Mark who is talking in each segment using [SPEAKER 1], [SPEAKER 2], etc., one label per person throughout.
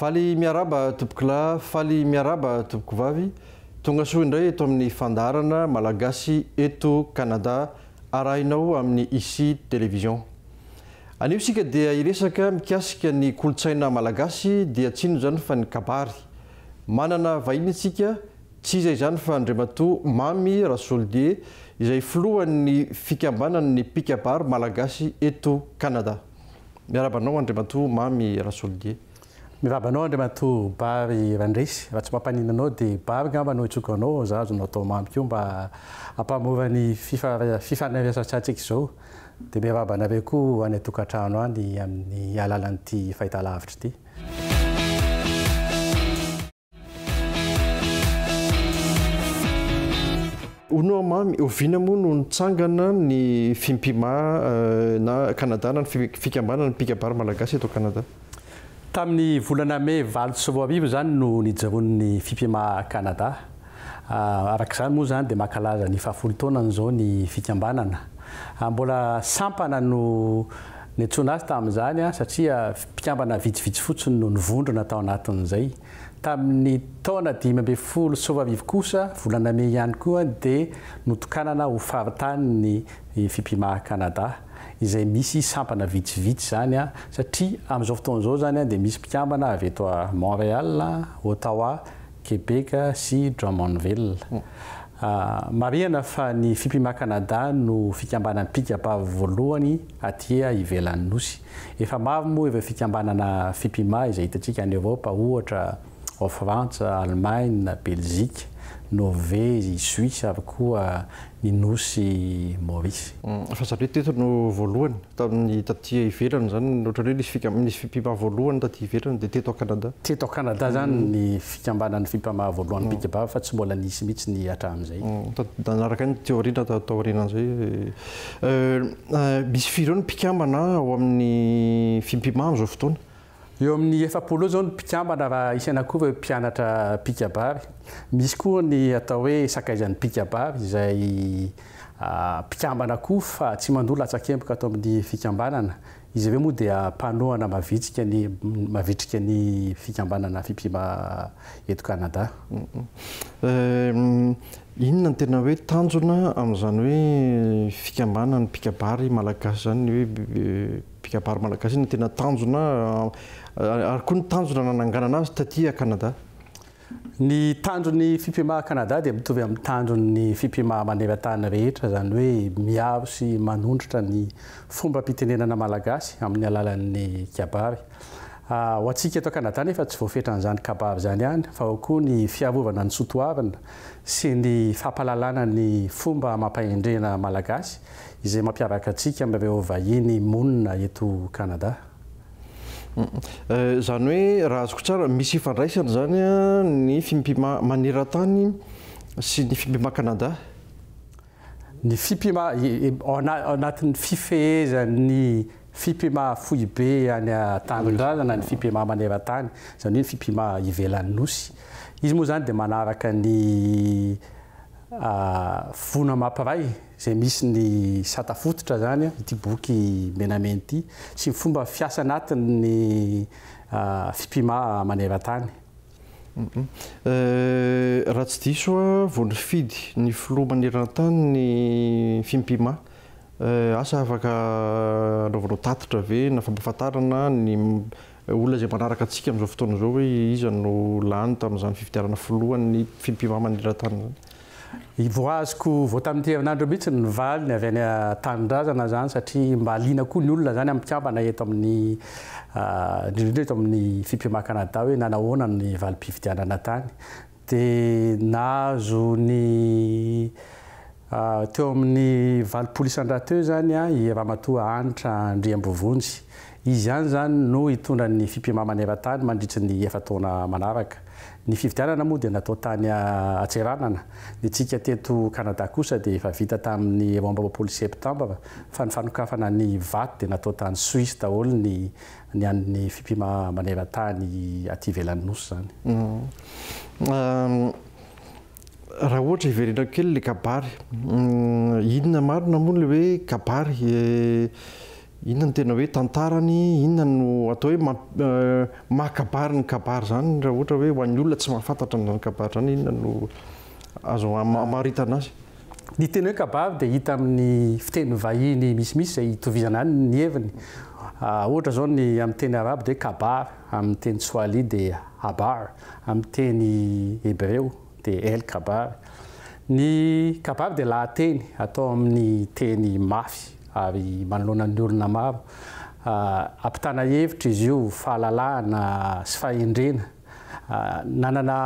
[SPEAKER 1] Faly miaraba tompokolahy, faly miaraba tompokovavy, tonga soa indray eto amin'ny fandaharana Malagasy eto Canada arahinao amin'ny Ici Télévision. Anio isika dia hiresaka mikasika ny kolontsaina Malagasy dia tsy inona izany fa ny kabary. Manana vahiny isika, tsy iza izany fa Andriamatoa Mamy Rasoldier izay filohan'ny fikambanan'ny mpikabary Malagasy eto Canada. Miarahaba anao Andriamatoa Mamy Rasolidier. Mirahaba anao
[SPEAKER 2] Andriamatoa Bary Randresy. Raha tsy mampaninona anao dia Bary angamba no hitsoka anao fa za azonao atao Mamy koa mba hampamora ny fifandraisan-tsatsika izao. Dia miarahaba anareo koa any an-tokantrano any amin'ny alalan'ity fahitalavitra ity.
[SPEAKER 1] Hono mamy, oviana moa no nitsangana ny Fimpima na Canada na ny fikambanana mpikabary malagasy eto Canada? Tamin'ny
[SPEAKER 2] volana mey valo sy roa arivo izany no nijoroan'ny Fimpima Canada. Araka izany moa izany dia mankalaza ny fahafolo taonany izao ny fikambanana. Mbola sampana no niantsoana azy tamin'izany satria Mpikambana vitsivitsy fotsiny no nivondrona tao anatin'izay. Tamin'ny taona dimy ambin'ny folo sy roa arivo kosa, volana mey ihany koa, dia notokanana ho faritany ny Fipimaha Canada, izay misy sampana vitsivitsy izany, satria amin'izao fotoana izao izany dia misy mpikambana avy eto Montréal, Ottawa, Québec sy Drummondville. Marihana fa ny Fipimaha Canada no fikambanam-pika-bavy voalohany aty ivelan'ny Nosy. Efa maro moa ireo fikambanana Fipima izay hitantsika any Eoropa ohatra ao Frantsa, Alemaina, Belzika, Norvezy, Suisse ary koa ny nosy Maurice. Fa zareo teto
[SPEAKER 1] no voalohany tamin'ny taty ivelany izany ohatran'ny hoe nisy fika nisy Fipima voalohany taty ivelany dia teto ao Canada. Teto ao Canada izany
[SPEAKER 2] ny fikambanan'ny Fipama voalohany Picba fa tsy mbola nisy mihitsy ny hatramin'izay. Nanaraka ny
[SPEAKER 1] teoria natao taorianan'izay. Misy firy eo ny mpikambana ao amin'ny Fimpiman amin'izao fotoana? Eo amin'ny
[SPEAKER 2] efapolo eo izao ny mpikambana raha isaina koa ireo mpianatra mpikabary. Misy koa ny atao hoe sakaizan'ny mpikabary izay mpikambana koa fa tsy mandoa latsakemboka ato amin'ny fikambanana. Izy ireo moa dia mpanohana mavitsika ny mavitrika ny fikambanana Fiphima eto Canada.
[SPEAKER 1] Inona no tena hoe tanjona amin'izany hoe fikambanan'ny mpikabary malagasy izany, ny hoe mpikabary malagasy, inona no tena tanjona ary koa ny tanjona nananganana azy taty à Canada? Ny
[SPEAKER 2] tandron'ny fipimaha Canada dia mitovy amin'ny tandron'ny fipimaha maneran-tany rehetra, izany hoe miaro sy manondrotra ny fombam-pitenenana malagasy amin'ny alalan'ny kabary. Ho antsika eto Canada anefa tsy voafetra an'izany kabary izany ihany fa ao koa ny fiarovana ny soatoavina sy ny fampahalalana ny fomba amam-pahendrena malagasy izay mampiavaka antsika amin'ireo vahiny monina eto Canada.
[SPEAKER 1] Izany hoe raha azoko tsara, misy ifandraisany izany ny fimpima maneran-tany sy ny fimpima Canada?
[SPEAKER 2] Ny fimpima ao anatin'ny fifehezan'ny fimpima foibe any an-tanindrazana ny fimpima maneran-tany, izany hoe ny fimpima ivelan'ny Nosy. Izy moa izany dia manaraka ny voina mampiray. izay misy ny sata fototra izany ity boky menamena ity sy ny fomba fiasa anatin' ny fipima maneran-tany.
[SPEAKER 1] Raha tsy diso aho, vao nifidy ny filoha maneran-tany ny fimpima. Asa afaka anaovanao tatitra ve na fampahafantarana ny olona izay manaraka antsika amin'izao fotoana izao hoe iza no lany tamin'izany fifidianana filohan'ny fimpima maneran-tany izany? Voaziko
[SPEAKER 2] vao tamin'ity herinandro mihitsy ny valiny avy any an-tanindrazana izany satria mba liana koa ny olona izany amin'ny mpikambana eto amin'ny indrindra indrindra eto amin'ny Fiphma Canada hoe nanahoana ny valim-pifidianana tany dia nahazo ny teo amin'ny valopolo isan-draha teo izany i Ramatoa Hanitra Andriambovonjy Izy ihany izany no hitondra ny fipimamana eran-tany mandritry ny efa-taona manaraka. Ny fifidianana moa dia natao tany Antseranana. Ny antsika teto Kanada kosa dia efa vita tamin'ny roa amby roapolo Septambra fa ny fanokafana ny vato dia natao tany Suisse daholo ny ny an'ny fipimamana eran-tany aty ivelan'ny Nosy izany. Raha ohatra hiverenako kely ilay kabary,
[SPEAKER 1] inona marina moa ilay hoe kabary? Inona no tena hoe tantarany, inona no atao hoe maha kabary ny kabary izany raha ohatra hoe ho an'ny olona tsy mahafantatra an'izany kabary izany inona no azo amaritana azy? Ny teny hoe
[SPEAKER 2] kabary dia hita amin'ny fiteny vahiny misimisy izay itovizana ihany ny heviny. Ohatra izao ny amin'ny teny arabo dia hoe kabar, amin'ny teny tsoalia dia habar, amin'ny teny hebreo dia El Khabar. Ny Khabar dia lahateny atao amin'ny teny mafy ary manoloana ny olona maro. Ampitana hevitra izy io, fahalalahana sy fahendrena. Nanana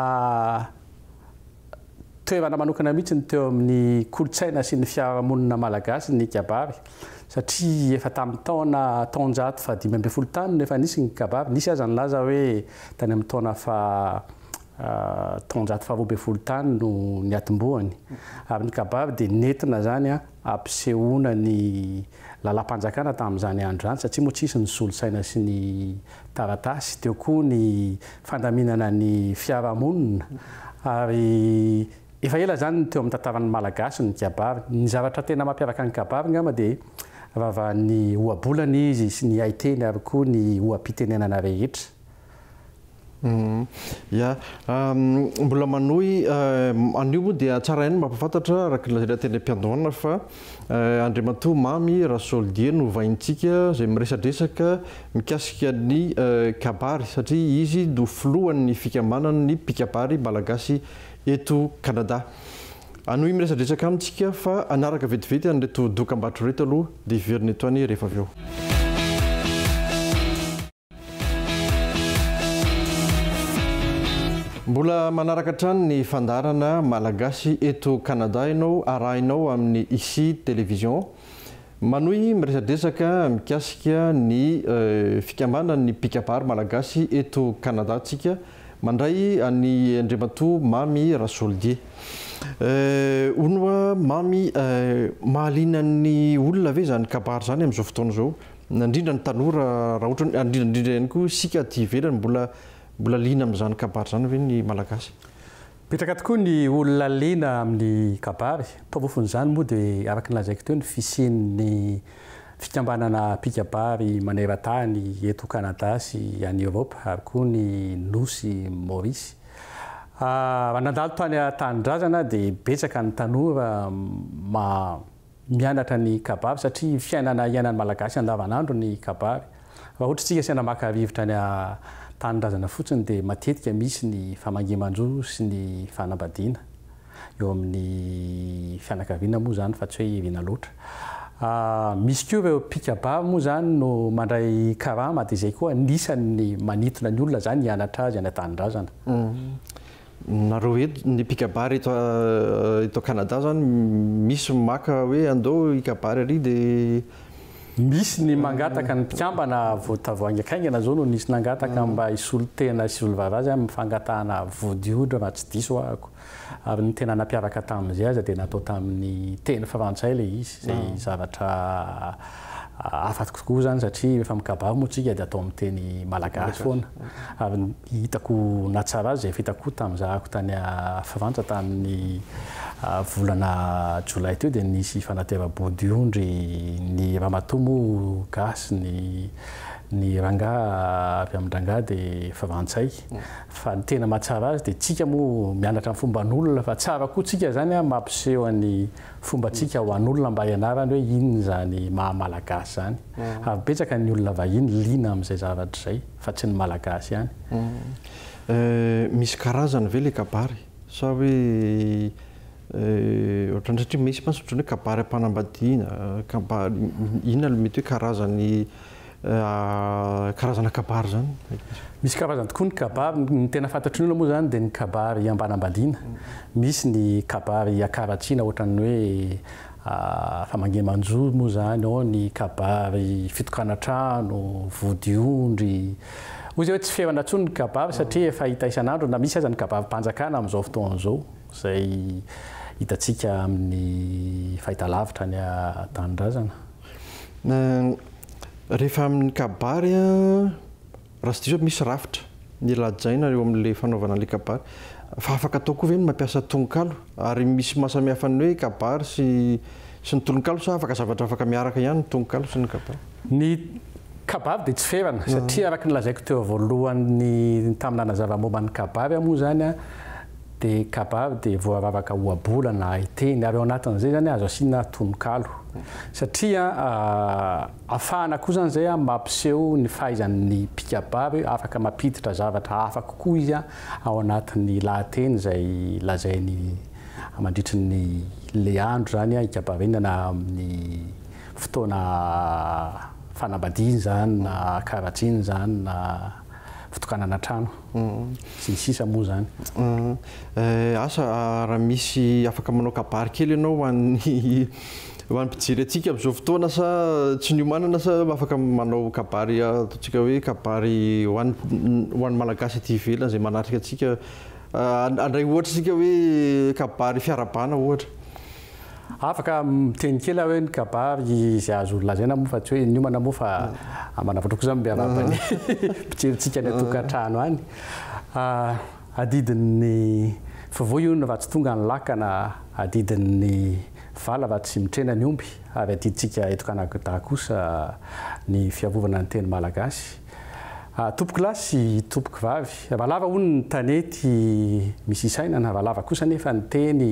[SPEAKER 2] toerana manokana mihitsy ny teo amin'ny kolontsaina sy ny fiarahamonina malagasy ny kabary satria efa tamin'ny taona taonjato fahadimy ambin'ny folo tany no efa nisy ny kabary. Nisy aza nilaza hoe tany amin'ny taona faha taonjato faharoa ambin'ny folo tany no niatombohany ary ny kabary dia nentina izany hampisehoana ny lalam-panjakana tamin'izany andro izany satria moa tsy hisy ny solosaina sy ny taratasy, teo koa ny fandaminana ny fiarahamonina ary efa ela izany no teo amin'ny tantaran'ny Malagasy ny kabary. Ny zavatra tena mampiavaka ny kabary angamba dia ravahan'ny ohabolana izy sy ny haiteny ary koa ny oha-pitenenana rehetra.
[SPEAKER 1] Ia. Mbola manohy, anio moa dia tsara ihany ny mampahafantatra araka ny lazainay teny am-piandohana fa Andriamatoa Mamy Rasoldier no hovaintsika izay miresadresaka mikasika ny kabary satria izy no filohan'ny fikambanan'ny mpikabary malagasy eto Canada. Hanohy miresadresaka aminy isika fa hanaraka vetivety an'ireto dokambarotra ireto aloha dia hiverina eto ihany rehefa avy eo. Mbola manaraka hatrany ny fandaharana Malagasy eto Canada ianao, arahinao amin'ny Ici Télévision. Manohy miresadresaka mikasika ny fikambanan'ny mpikabary Malagasy eto Canada tsika, mandray an'i Andriamatoa Mamy Rasoldier. Hono oa Mamy, mahaliana ny olona ve izany kabary izany amin'izao fotoana izao? na indrindra ny tanora raha ohatra hoe indrindra indrindra ihany koa isika aty ivelany mbola mbola liana amin'izany kabary izany ve ny malagasy? Betsaka tokoa
[SPEAKER 2] ny olona liana amin'ny kabary, porofon'izany moa dia araka ny lazaiko teo ny fisian'ny fikambanana mpikabary maneran-tany eto Canada sy any Europe ary koa ny nosy Maurice. Raha nandalo tany an-tanindrazana aho dia betsaka ny tanora mianatra ny kabary satria fiainana iainan'ny Malagasy andavanandro ny kabary. Raha ohatra isika asaina maka rivotra any an-tanindrazana fotsiny dia matetika misy ny famangiman-jo sy ny fanambadiana eo amin'ny fianakaviana moa izany fa tsy hoe iriana loatra. Misy koa ireo mpikabary moa izany no mandray karama dia izay koa anisan'ny manintona ny olona izany hianatra azy any an-tanindrazana.
[SPEAKER 1] Nareo eto ny mpikabary eto eto Canada zany misy maka hoe andao hikabary ary dia. Misy
[SPEAKER 2] ny mangataka ny mpikambana voditavoahangy akaiky haingana zao no nisy nangataka mba hisolo tena sy hisolo vava azy aminy fangatahana vody odra raha tsy diso ahako ary ny tena nampiaraka taminy zay aza dia natao taminy teny frantsay le izy zay zavatra Hafa tokoa izany satria rehefa mikabary moa isika dia atao amin'ny teny malagasy foana. Ary hitako nahatsara azy izay fitako tamin'ny zahako tany Frantsa tamin'ny volana jolay teo dia nisy fanateram-body ondry ny ramatoa moa gasy ny ny rangahy avy amin-drangahy dia frantsay. Fa ny tena mahatsara azy dia isika moa mianatra ny fomban'olona fa tsara koa isika izany mampiseho an'i Fombantsika ho an'olona mba hianarany hoe inona izany maha-malagasy izany. Ary betsaka ny olona vahiny liana amin'izay zavatra izay fa tsy ny malagasy ihany.
[SPEAKER 1] Misy karazany ve ilay kabary sa hoe ohatran'ny satria misy mantsy ohatran'ny hoe kabary am-panambadiana, kabary inona ilay mety hoe karazany? karazana kabary zany? Misy karazany
[SPEAKER 2] tokoa ny kabary, ny tena fantatry ny olona moa zany dia ny kabary ambanambadiana, misy ny kabary akaratsiana ohatran'ny hoe famangiamanjo moa zany, ao ny kabary fitokana trano, vody ondry, hoy zay hoe tsy ferana intsony ny kabary satria efa hita isan'andro na misy aza ny kabarim-panjakana amin'izao fotoana izao izay hitantsika amin'ny fahitalavitra any an-tanindrazana.
[SPEAKER 1] Rehefa amin'ny kabary a, raha tsy diso aho misy rafitra ny lajaina eo amin'ilay fanaovana an'ilay kabary. Fa afaka atao koa ve ny mampiasa tononkalo? Ary misy maha samy hafa ny hoe kabary sy sy ny tononkalo sa afaka zavatra afaka miaraka ihany ny tononkalo sy ny kabary? Ny
[SPEAKER 2] kabary dia tsy ferana satria araka ny lazaiko teo voalohany tamin'ny nanazava momba ny kabary aho moa izany a, dia kabary dia voaravaka ohabolana haiteny ary ao anatin'izay zany azo asiana tononkalo satria afahana koa zany zay mampiseho ny fahaizan'ny mpikabary afaka mampiditra zavatra hafa kokoa izy ao anatin'ny lahateny izay lazainy mandritry ny le andro zany hikabariana na amin'ny fotoana fanambadiana izany na karatsiana izany na fitokanana trano sy ny sisa moa izany.
[SPEAKER 1] Asa raha misy afaka manao kabary kely ianao ho an'ny ho an'ny mpijery antsika amin'izao fotoana sa tsy niomanana sa afaka manao kabary ataontsika hoe kabary ho an'ny ho an'ny Malagasy aty ivelany izay manatrika antsika handray ohatra isika hoe kabary fiarahabana ohatra. Afaka
[SPEAKER 2] miteny kely aho hoe ny kabary izay azo lazaina moa fa tsy hoe niomana moa fa manavotro kosa miarahaba ny mpijerintsika any an-tokantrano any. Adidin'ny fivoy io ny ratsy tonga ny lakana, adidin'ny vala raha tsy mitrena ny omby ary adidintsika eto Kanagda kosa ny fiarovana ny teny malagasy. Tompokolahy sy tompokovavy. Valava hono ny tanety misy isainana, valava kosa anefa ny teny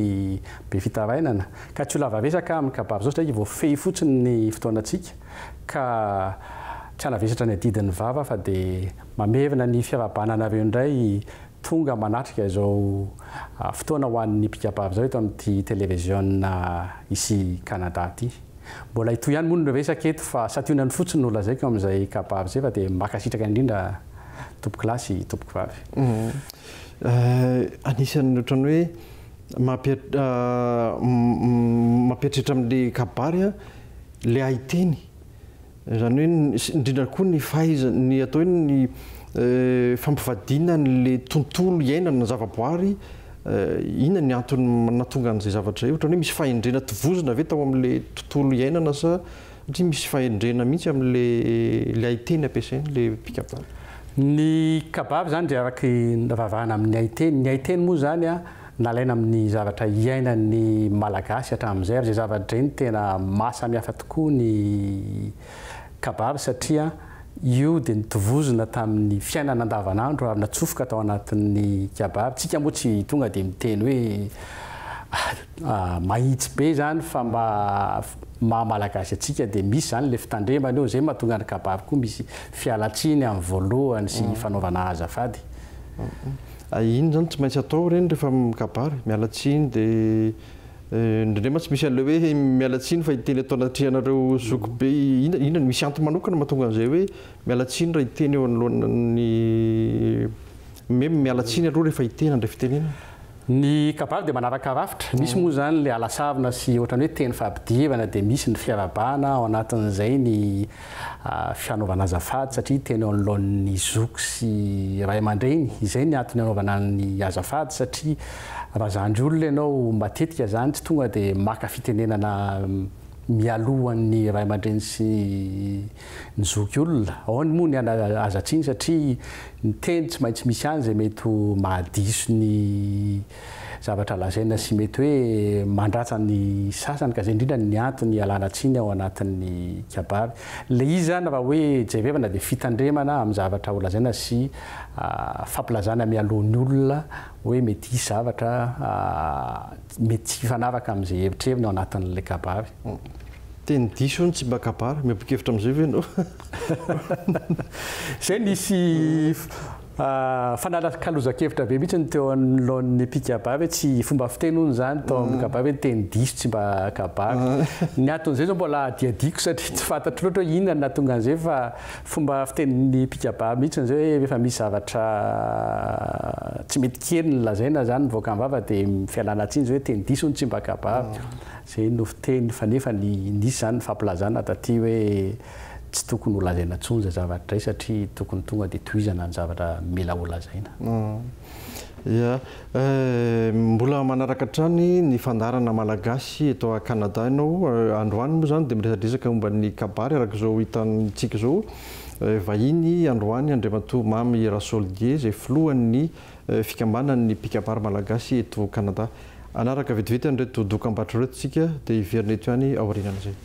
[SPEAKER 2] be fitarainana, ka tsy ho lava vesaka amin'ny kabary izao satria voafehy fotsiny ny fotoanantsika, ka tsy hanavesatra ny adidin'ny vava fa dia mamerina ny fiarahabana anareo indray tonga manatrika izao fotoana ho an'ny mpikabary izao eto amin'ity televiziona ici Canada ity. Mbola hitohy ihany moa ny resaka eto fa santionany fotsiny no lazaiko amin'izay kabary izay fa dia mankasitraka indrindra tompoko lahy sy tompoko vavy.
[SPEAKER 1] Anisan'ny ohatran'ny hoe mampieritreritra amin'ilay kabary an, ilay haiteny Izany hoe indrindra koa ny fahaizana, ny atao hoe ny fampivadiana an'ilay tontolo iainana, ny zavaboary, inona ny antony nahatonga an'izay zavatra izay? Ohatran'ny hoe misy fahendrena tovozina ve tao amin'ilay tontolo iainana sa satria misy fahendrena mihitsy amin'ilay haiteny ampiasain'ilay mpikabary? Ny
[SPEAKER 2] kabary izany dia araka ny nivavahana amin'ny haiteny. Ny haiteny moa izany. Nalaina amin'ny zavatra iainan'ny Malagasy hatramin'izay ary izay zava-dre no tena maha samihafa tokoa ny kabary satria io dia notovozina tamin'ny fiainana andavanandro ary natsofoka tao anatin'ny kabary. Tsika moa tsy tonga dia miteny hoe mahitsy be izany fa mba maha Malagasy antsika dia misy izany ilay fitandremana eo, izay mahatonga ny kabary koa misy fialan-tsiny amin'ny voalohany sy fanaovana azafady.
[SPEAKER 1] Hay iny zany tsy maintsy atao reny rehefa mikabary, miala tsiny de indrindray mantsy misy an'ilay hoe miala tsiny fa hiteny eto anatrehanareo zoky be inona inona misy antony manokana mahatonga an'izay hoe miala tsiny raha hiteny eo anoloan'ny me miala tsiny aloha rehefa hiteny handray fitenenana. Ny
[SPEAKER 2] kabary dia manaraka rafitra, misy moa izany ilay alasarona sy ohatran'ny hoe teny fampidivana dia misy ny fiarahabana ao anatin'izay ny fanaovana azafady satria teny eo anoloan'ny zoky sy ray aman-dreny, izay ny antony anaovana ny azafady satria raha zandry olona ianao matetika izany tsy tonga dia maka fitenenana mialoha ny ray aman-dreny sy ny zoky olona, ao ny moa ny an aza tsiny satria ny teny tsy maintsy misy any izay mety ho mahadiso ny Zavatra lazaina sy mety hoe mandratra ny sasany ka zay indrindra ny antony ialana tsiny ao anatin'ny kabary. Le izy zany raha hoe jerevana dia fitandremana amin'ny zavatra ho lazaina sy fampilazana mialoha ny olona hoe mety hisy zavatra mety tsy hifanaraka amin'izay hevitreriny ao anatin'ilay kabary. Teny
[SPEAKER 1] diso io ny tsimbakabary, miombo-kevitra amin'izay ve ianao?
[SPEAKER 2] Zay nisy. Fanalakalozan-kevitra be mihitsy ny teo anoloan'ny mpikabary hoe tsy fomba fiteny hono izany tao amin'ny kabary hoe ny teny diso tsy mba kabary. Ny anton'izay izao mbola hadihadiako satria tsy fantatro loatra hoe inona no nahatonga an'izay fa fomba fitenin'ny mpikabary mihitsy izay hoe rehefa misy zavatra tsy mety kely no lazaina izany mivoaka am-bava dia fialana tsiny izay hoe teny diso hono tsy mba kabary. Izay no fiteny fa nefa ny nisy izany ny fampilazana taty hoe tsy tokony ho lazaina intsony izay zavatra izay satria tokony tonga dia tohizana ny zavatra mila ho lazaina. Ia.
[SPEAKER 1] Mbola manaraka hatrany ny fandaharana Malagasy eto à Canada ianao. Androany moa izany dia miresadresaka momba ny kabary araka izao hitantsika izao. Vahiny androany Andriamatoa Mamy Rasoldier izay filohan'ny. fikambanan' ny mpikabary malagasy eto Kanada. Hanaraka vetivety an' ireto dokam-barotra ireto isika dia hiverina eto ihany aorianan' izay.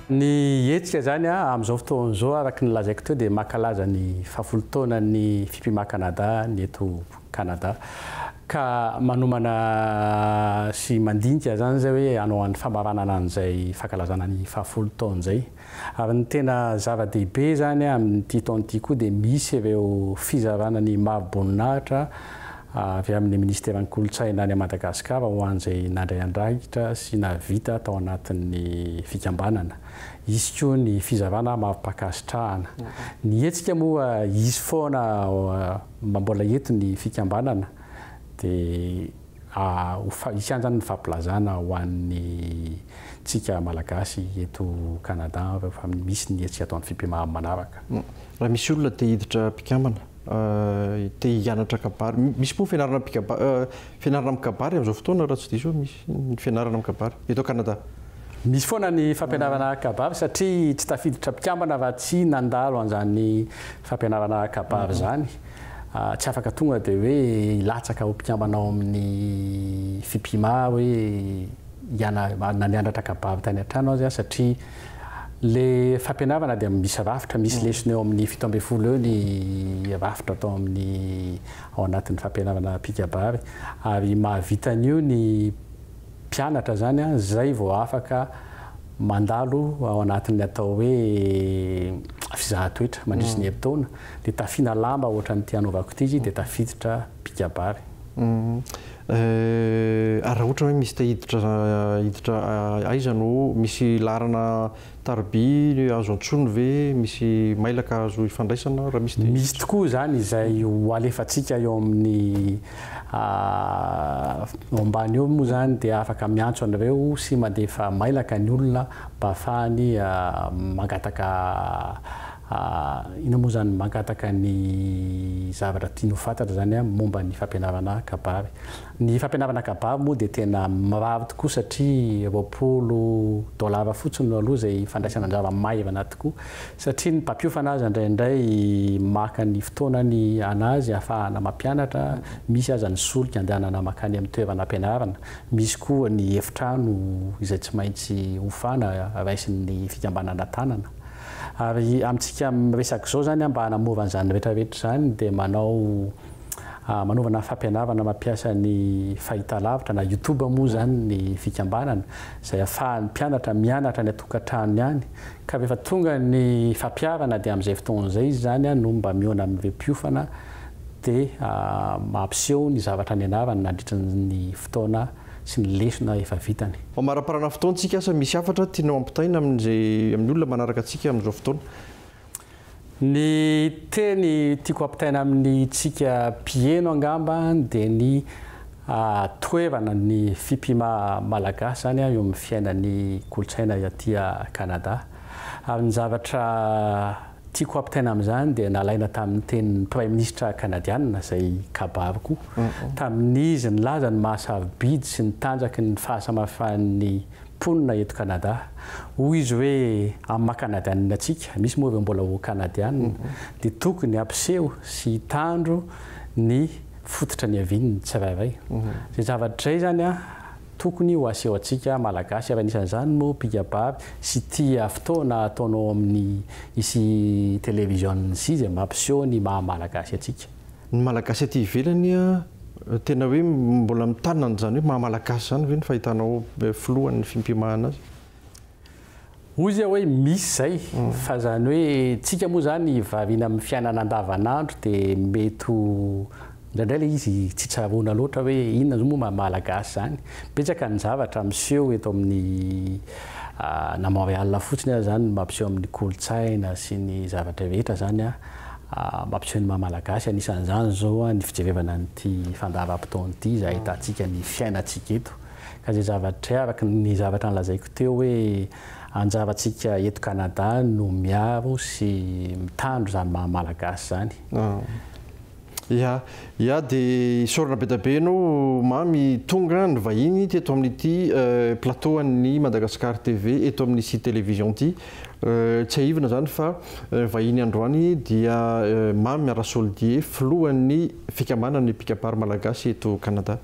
[SPEAKER 2] Ny hetsika izany amin' izao fotoana izao araka ny lazaiko teo dia mankalaza ny fahafolo taonan' ny Fipima Kanada ny eto Kanada ka manomana sy mandinika izany izay hoe hanao an' ny famaranana an' izay fankalazana ny fahafolo taona izay. Ary ny tena zava-dehibe izany amin'ity taona ity koa dia misy ireo fizarana ny mari-boninahitra avy amin'ny Ministeran'ny Kolontsaina any Madagasikara ho an'izay nandray andraikitra sy nahavita tao anatin'ny fikambanana. Hisy koa ny fizarana mari-pankasitrahana. Ny hetsika moa hisy foana mba mbola eto ny fikambanana dia ho hianjany ny fampilazana ho an'ny tsika malagasy eto Canada rehefa misy ny hetsika atao ny fipemaham manaraka. Raha misy olona
[SPEAKER 1] te hiditra mpikambana, te hianatra kabary, misy moa fianarana mpikaba, fianarana amin'ny kabary amin'izao fotoana raha tsy diso misy ny fianarana amin'ny kabary eto Canada? Misy foana
[SPEAKER 2] ny fampianarana kabary satria tsy tafiditra mpikambana raha tsy nandalo an'izany fampianarana kabary izany. tsy afaka tonga dia hoe hilatsaka ho mpikambana ao amin'ny Fipima hoe hianara, na mianatra kabary tany an-trano aza satria ilay fampianarana dia misy rafitra, misy lesona eo amin'ny fito ambin'ny folo eo ny rafitra atao amin'ny ao anatin'ny fampianarana mpikabary ary mahavita an'io ny mpianatra zany a, zay vao afaka mandalo ao anatin'ny atao hoe fizahatoetra mandritry ny herintaona, de tafiana lamba ohatran'ity anaovako ity izy de tafiditra mpikabary.
[SPEAKER 1] Ary raha ohatra hoe misy te hiditra hiditra aiza no misy laharana? Tarobia azo antsoina ve misy mailaka azo hifandraisana? Raha misy dia. Misy tokoa izany
[SPEAKER 2] izay ho alefantsika eo amin'ny eo ambany eo moa izany dia afaka miantso anareo sy mandefa mailaka ny olona mba afahany mangataka inona moa izany? Mangataka ny zavatra tiany ho fantatra izany momba ny fampianarana kabary. Ny fampianarana kabary moa dia tena mirary tokoa satria roapolo dolara fotsiny no aloha izay fandraisana anjara maivana tokoa satria ny mpampiofana aza indraindray maka ny fotoanany anazy ahafahana mampianatra, misy aza ny solika andehanana mankany amin'ny toerana ampianarana, misy koa ny efitrano izay tsy maintsy hofana raisin'ny fikambanana tanana ary amintsika miresaka izao izany mba hanamora an'izany rehetrarehetra izany dia manao Manaovana fampianarana mampiasa ny fahitalavitra na YouTube moa izany ny fikambanana izay ahafahan'ny mpianatra mianatra any an-tokantranony any ka rehefa tonga ny fampiharana dia amin'izay fotoana izay izy izany no mba mihaona amin'ireo mpiofana dia mampiseho ny zavatra nianarany nandritra ny fotoana sy ny lesona efa vitany. Mamariparana fotoantsika
[SPEAKER 1] asa misy hafatra tianao hampitaina amin'ny olona manaraka antsika amin'izao fotoana. Ny
[SPEAKER 2] teny tiako ampitaina amintsika mpiheno angamba dia ny toerana ny fipima malagasy izany eo amin'ny fiainan'ny kolontsaina aty Canada. Ary ny zavatra tiako ampitaina amin'izany dia nalaina tamin'ny tenin'ny praiminisitra kanadiana izay kabary koa tamin'izy nilaza ny maha-sarobidy sy ny tanjaky ny fahasamafan'ny Mponina eto Canada. Hoy izy hoe amin'ny maha Canadianina antsika, misy moa ireo mbola ho Canadianina, dia tokony hampiseho sy hitandro ny fototra niaviany ny tsirairay. Izay zavatra izay izany tokony ho asehontsika Malagasy ary anisan'izany moa mpikabary sy tia fotoana ataonao amin'ny sy television sy izay mampiseho ny maha Malagasy antsika. Ny Malagasy aty
[SPEAKER 1] ivelany tena hoe mbola mitana an'izany hoe maha-Malagasy izany ve ny fahitanao filohan'ny fimpimahana azy?
[SPEAKER 2] Hoy izy hoe misy izay fa izany hoe tsika moa izany variana amin'ny fiainana andavan'andro dia mety ho indraindray ilay izy tsy tsaroana loatra hoe inona izao moa maha-Malagasy izany. Betsaka ny zavatra miseho eto amin'ny na Montréal fotsiny aza izany no mampiseho amin'ny kolontsaina sy ny zavatra rehetra izany. mampiseho ny maha Malagasy. Anisan'izany izao ny fijerevana an'ity fandaharam-potoana ity izay ahitantsika ny fiainantsika eto. Ka izay zavatra, araka ny zavatra nolazaiko teo hoe anjarantsika eto Canada no miaro sy mitandro izany maha Malagasy izany.
[SPEAKER 1] Ia, ia dia isaorana be dia be ianao Mamy tonga nivahiny teto amin'ity plateau an'ny Madagascar TV eto amin'isy télévision ity. Tsiahivina izany fa vahiny androany dia Mamy Rasoldier filohan'ny fikambanan'ny mpikabary malagasy eto Canada.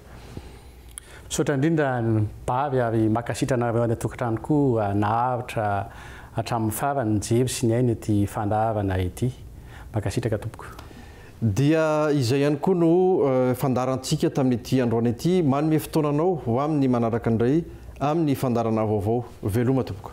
[SPEAKER 2] Misaotra indrindra Bary ary mankasitra anareo any an-tokantrano koa naharitra hatramin'ny farany nijery sy nihaino ity fandaharana ity. Mankasitraka tompoko. Dia
[SPEAKER 1] izay ihany koa no fandaharantsika tamin'ity androany ity. Manome fotoana anao ho amin'ny manaraka indray amin'ny fandaharana vaovao. Veloma tompoko.